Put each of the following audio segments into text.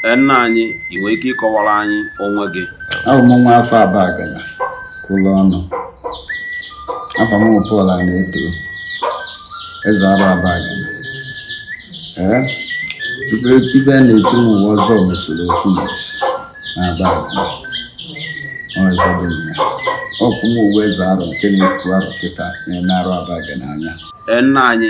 Ee, nna anyị, ị nwere ike ịkọwara anyị onwe gị? Abụ m nwa afọ Abagana kwụrụ ọnụ. Afa m bụ Pọl Anaeto, eze Aro Abagana. Ee, ive ive a na-etu m wụ Ọzọ mesoro ofu ụbọchị na Abagana. Ọ ebe dị m ya. Ọ kwa mụ wụ eze Aro nke nọ n'okwu Aro kịta na-ene Aro Abagana anya. Ee, nna anyị,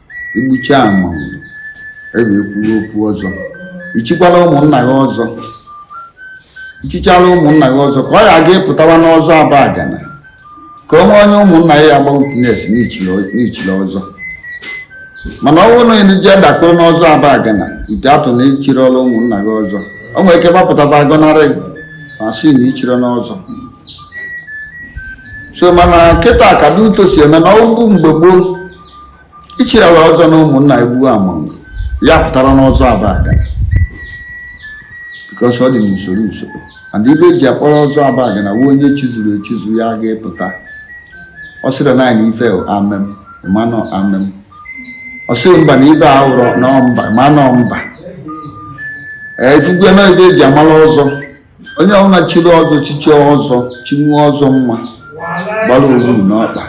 i gbucha amanwụrụ ebe e kwuwe okwu ọzọ i chikwaala ụmụnna gị ọzọ i chichaala ụmụnna gị ọzọ ka ị ya-aga ịpụtawa n'ọzọ abagana ka e nwee onye ụmụnna ya-agba witness na i chiri ọzọ mana ọ bụrụ na i jee dakpuru n'ọzọ abagana without na i chirọrọ ụmụnna gị ọzọ o nwere ike gbapụta va agọnarị ma sị na i chirọ ọzọ so mana kịta ka dị etu o si eme na ọ bụ mgbe gboo i chirala ọzọ na ụmụnna i gbuo amanwụrụ ị ya-apụtara n'ọzọ abagana because ọ dị n'usoro usoro and ive e ji akpọrọ ọzọ abagana wụ onye chizuru echizu ya ga-epụta ọ sịrị na anyị ife amen ma na ọ amen ọ sịrị mba na ife a wụrọ na mba ma na ọ mba ee ị fụgo na ife e ji amara ọzọ onye ọbụla chiri ọzọ chie ọzọ chie ọzọ ma gbara owuru n'ọkpa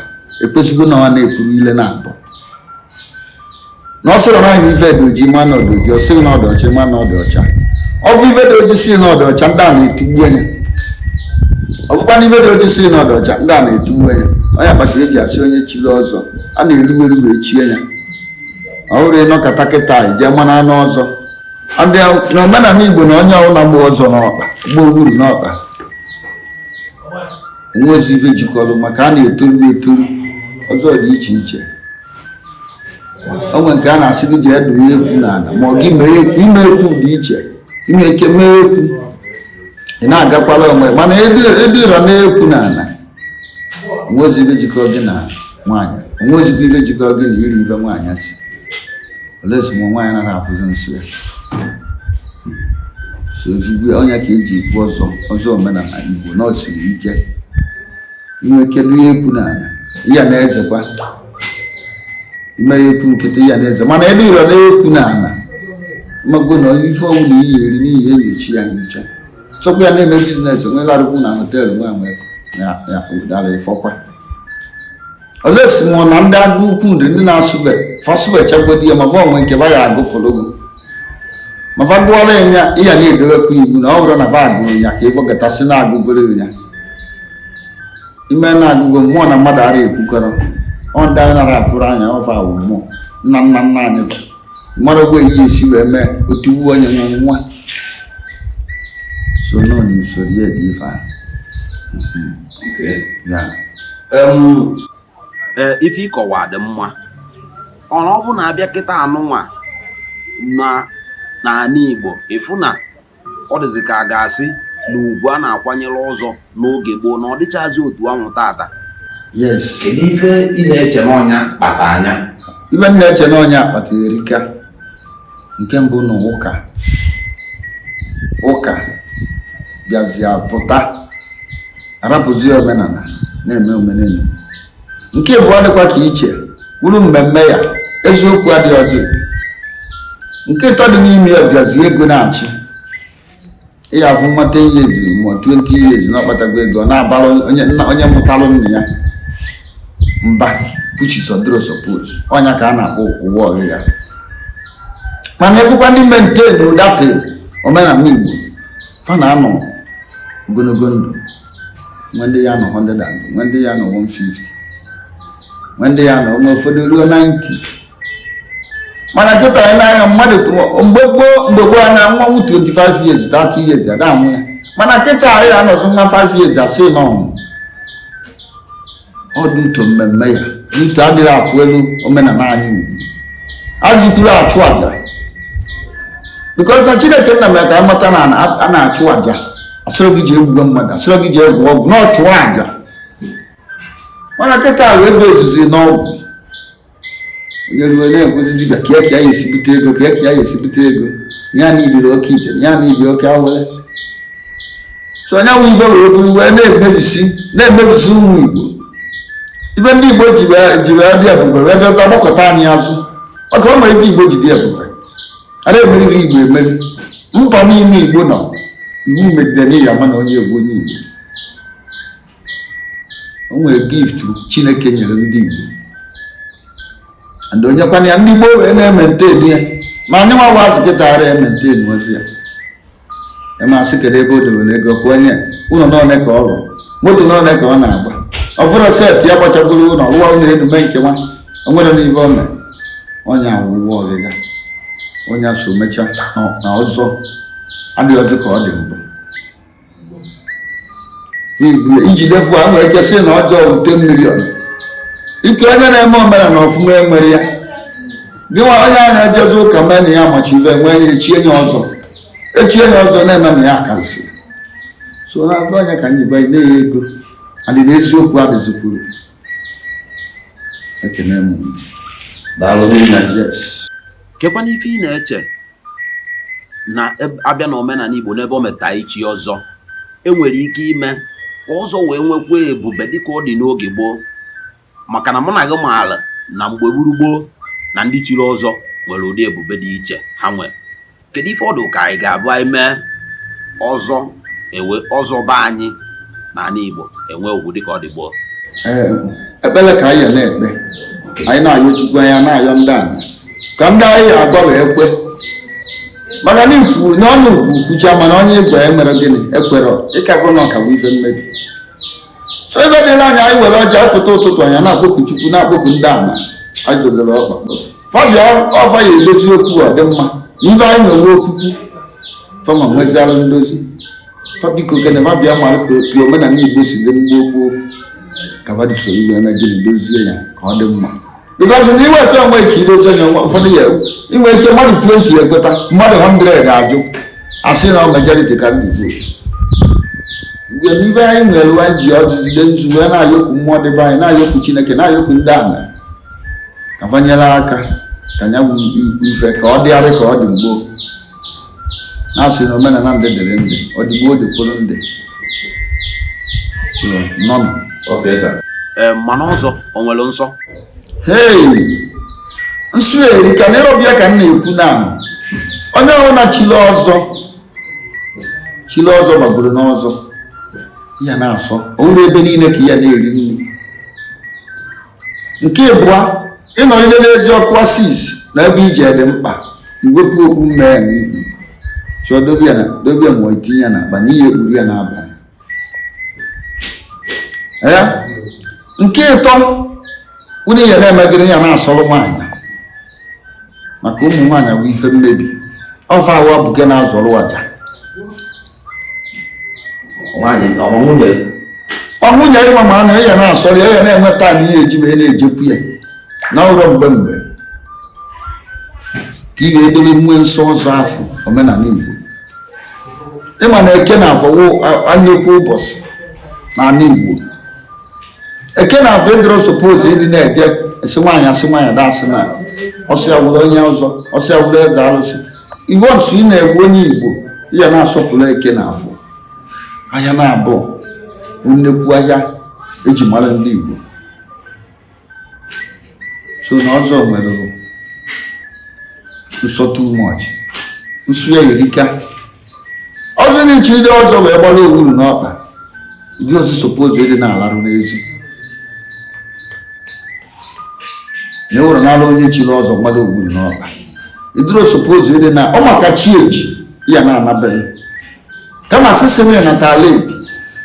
ekwesịrọ na ọ na-ekwuru ile naabọ na ọ sịrị na anyị ife dị oji ma na ọ dị oji ọ sị gị na ọ dị ọcha ma na ọ dị ọcha ọ bụ ife dị oji sị na ọ dị ọcha ndị ana etigbue nya ọ bụkwa na ife dị oji sị na ọ dị ọcha ndị ana etigbue nya ọ nya kpata e ji asị onye chiri ọzọ a na-eru eru echie nya ọ bụrọ ị nọkata kịta i jee mara n'ọzọ na omenala igbo na onye ọbụla gba ọzọ n'ọkpa gba owuru n'ọkpa nwezi ife jikọrọ maka a na-etoru etoru ọzọ dị iche iche o nwe nke a na-asị gị jee dụrụ ekwu n'ala ma ọ gị ime ekwu dị iche i nwe ike mee ekwu ị na-agakwala onwe mana i dụrụna ekwu n'ala o nwezi ive jikọrọ gị na nwaanyị o nwezikwa ive jikọrọ gị na iri ive nwaanyị siri esi ma nwaanyị naghị afụzi nsọ ya so ezigbo ọ nya ka e ji ekwu ọzọ ọzọ omenala igbo na o siri ike i nwe ike dụa ekwu n'ala ị ya na-ezekwa i mere ekwu nkịtị ị ya na-eze mana ebe i dụrụna ekwu n'ala mago na ife ọ wụna ị ya-eri na ị ya-enyocha ya enyocha tupu ya na-eme business nwelarụkwu na hotel nwa nwe ya ụdara ị fụkwa ọzọ esi mụọ na ndị agụ ukwu nri ndị na-asụbe fasụbe chakwado ya ma va o nwe nke va ya-agụfụrụ gị ma va gụọla ya ị ya na-edowekwa iwu na ọ bụrụ na va agụrụ ya ka ị fụkata sị na a gụgoro ya i mee na a gụgo mmụọ na mmadụ ara ekwukọrọ ọ ndị anyị nara afụrọ anya ọ fa wụ mmụọ nna nna nna anyị mara ogbe ihe esi wee mee otu uwe onye na nwa so nọ n'usoro ya dị ife ahụ ee ife ị kọwa dị mma ọrụ ọ bụ na a bịa kịta a nụnwa na n'ala Igbo ị fụ na ọ dịzị ka a ga-asi na ugwu a na-akwanyere ọzọ n'oge gboo na ọ dịchazi otu ahụ tata yes kedu ife ị na-eche n'ọ nya kpataa nya ife m na-eche n'ọ nya kpata erika nke mbụ na ụka ụka bịazie pụta a rapụzi omenala na-eme omenenu nke abụọ dịkwa ka iche wuru mmemme ya eziokwu adịrọzi nke ịtọ dị n'ime ya ọ bụzi ego na-achị ị ya-afụ nwata ihe eziri ma 20 years na ọ kpatago ego ọ na-abara onye nna onye mụtalụ nna ya mba puchi sọdụrụ support ọ nya ka a na-akpọ ụwa ọrụ ya mana ekwukwa ndị maintain that omenala igbo fa na-anọ ogologo ndụ nwe ndị ya-anọ 100 and nwe ndị ya-anọ 150 nwe ndị ya-anọ o nwe ụfọdụ ruo 90 mana kịta anyị n'anya mmadụ mgbe gboo mgbe gboo anya nwa nwu 25 years 30 years ada anwụ ya mana kịta anyị anọzụ nwa 5 years a sị na ọ nwụ ọ dị uto mmemme ya n'uto adịghị akwụ elu omenala anyị ugwu a jụkwuru ịchụ aja because na chineke nna mere ka a mata na a na-achụ aja a sịrọ gị je gbuwe mmadụ a sịrọ gị je gwọ ọgwụ na-achụ aja mana kịta ahụ ego ezuzi n'ọgwụ onye ruo na-ekwuzi dibịa ka eke ya esibute ego ka eke ya esibute ego ya na ibiri oke ite ya na ibi oke awele so onye nwe ibe wee bụrụ wee na-emebisi na-emebisi ụmụ igbo ife ndị igbo ji wee dị ebube wee bịazi gbakụta anyị azụ maka ọ ma ife igbo ji dị ebube a na-emeriri igbo emeri mba niile igbo nọ iwu megidere ya mana onye igbo onye igbo o nwere gift chineke nyere ndị igbo and o nyekwana ya ndị gboo wee na-emaintain ya ma anyị nwa wazi kịta a emaintainọzi ya ịmasị kedu ebe o dewere ego kwụọ nye ụlọ n'one ka ọ rụrụ moto n'one ka ọ na-agba ọ fụrụ set ya gbachapụrụ ụlọ rụwa ụlọ enu mee nke nwa o nwere n'ihe ọ mere onye awụwa ọgịga onye so mecha na ọzọ adịghị ọzọ ka ọ dị mbụ i jide fụ a nwere ike sị na ọzọ wụ 10 million ike onye na-eme omenala ọfụma enwere ya dịwa onye a na-ejezi ụka mee na ya machi ife nwee ya echie ya ọzọ echie ya ọzọ na-eme na ya karịsị so na-agba onye ka anyị banye na-enye ego adị na eziokwu adịzikwuru ekene m daalụ rinne yes Kekwanụ ife ị na-eche na a bịa n'omenala Igbo n'ebe o metụta ichi ọzọ, e nwere ike ime ka ọzọ wee nwekwa ebube dịka ọ dị n'oge gboo? Maka na mụ na gị maara na mgbe gburu gboo na ndị chiri ọzọ nwere ụdị ebube dị iche ha nwere. Kedu ife ọ dị ka anyị ga-abụ anyị mee ọzọ enwe ọzọ be anyị na ala Igbo enwe ugwu dịka ọ dị gboo ekpere ka anyị na-ekpe anyị na-ayọ Chukwu anyị na-ayọ ndị a ka ndị anyị agwa wee kwe maka na ikwu n'ọnụ ugwu kwucha mana onye Igbo emere gịnị ekwere ịkagụ na ụka bụ ife mmebi so ebe dịla anya anyị were ọjị pụta ụtụtụ anyị na-akpọku Chukwu na-akpọku ndị ama anyị zọdoro ọkpa fa bịa ọ fa ya-edozi okwu ọ dị mma ibe anyị nwere okwukwu fa ma nwezialụ ndozi fa biko kene fa bịa mara ka opi omenala igbo si dị mgbe gboo ka fa dị soro ibe eme gịnị dozie ya ka ọ dị mma because na iweta onwe ka idozi onye nwa ụfọdụ ya-enwe ike mmadụ 2 ka ya-ekweta mmadụ 100 ga-ajụ asị na majority carry the vote mgbe n'ibe anyị nwere anyị ji ọjị jide nzu wee na-ayọkwu mmụọ dị be anyị na-ayọkwu chineke na-ayọkwu ndị ala ka fa nyere aka ka ya bụ ife ka ọ dịgharị ka ọ dị gboo na-asị na omenala ndị dịrị ndị ọ dị gboo dịkwuru ndị nọnụ mana ọzọ o nwere nsọ hei nsọ erika na ịrọbịa ka m na-ekwu na onye ọbụna chili ọzọ chili ọzọ gbagoro n'ọzọ ị ya na-asọ ọ bụrọ ebe niile ka ị ya na-eri nri nke ịbụa ịnọgide n'ezi okwu asị na ebe ị je dị mkpa iwepụ okpu mmee ya n'ihu chọọ dobe ya na dobe ya ma ọ tinye ya n'akpa n'ihi ekpuru ya n'abalị ya nke ịtọ unu ihe na-emegide ya na-asọrọ nwaanyị maka ụmụ nwaanyị bụ ife mmebi ọ fa awa bụ nke na-azọrọ aja nwaanyị ọma nwunye ọ nwunye ịma ma na ya na-asọrọ ya ya na-enweta na ihe eji wee na-ejekwu ya na ụlọ mgbe mgbe ka ị ga-edebe onwe nsọ ọzọ afọ omenala Igbo ị ma na eke na afọ bụ nnekwu ụbọchị n'ala Igbo eke na afọ ị dịrọ suppose ịdị na-eje esi nwaanyị asị nwaanyị ada asị na ọ sị ya bụrụ onye ọzọ ọ sị ya bụrụ eze alụsị once na ị bụ onye igbo ị ya na-asọpụrụ eke na afọ ahịa na-abụ nnekwu ahịa eji mara ndị igbo so na ọzọ nwere nsọ too much nsọ ya erika ọzọ onye chiri ọzọ wee gbara owuru n'ọkpa ịdịrọ suppose ịdị na-alarụ n'ezi na ewere n'ala onye chiri ọzọ gbara owuru n'ọkpa ịdịrọ suppose ịdị na ọ maka chi eji ya na-anaberọ kama sisi na ịnata ala ebi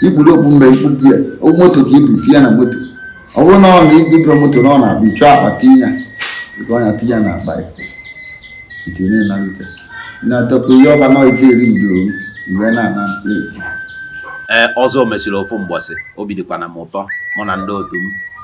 ikpuru okpu mgbe ikpu di ya okpu moto ka ibu fi ya na moto ọ bụrụ na ọ na ibibiro moto na ọ na-abụ ịchọ akpa tinye ya ebe ọ na-atụ ya na akpa ya nke na-enarute na-atọpụ ihe ọba na ife eri udo iwe na-ana pleti ee ọzọ mesịrị ofu mgbọsị obi dịkwana m ụtọ mụ na ndị otu m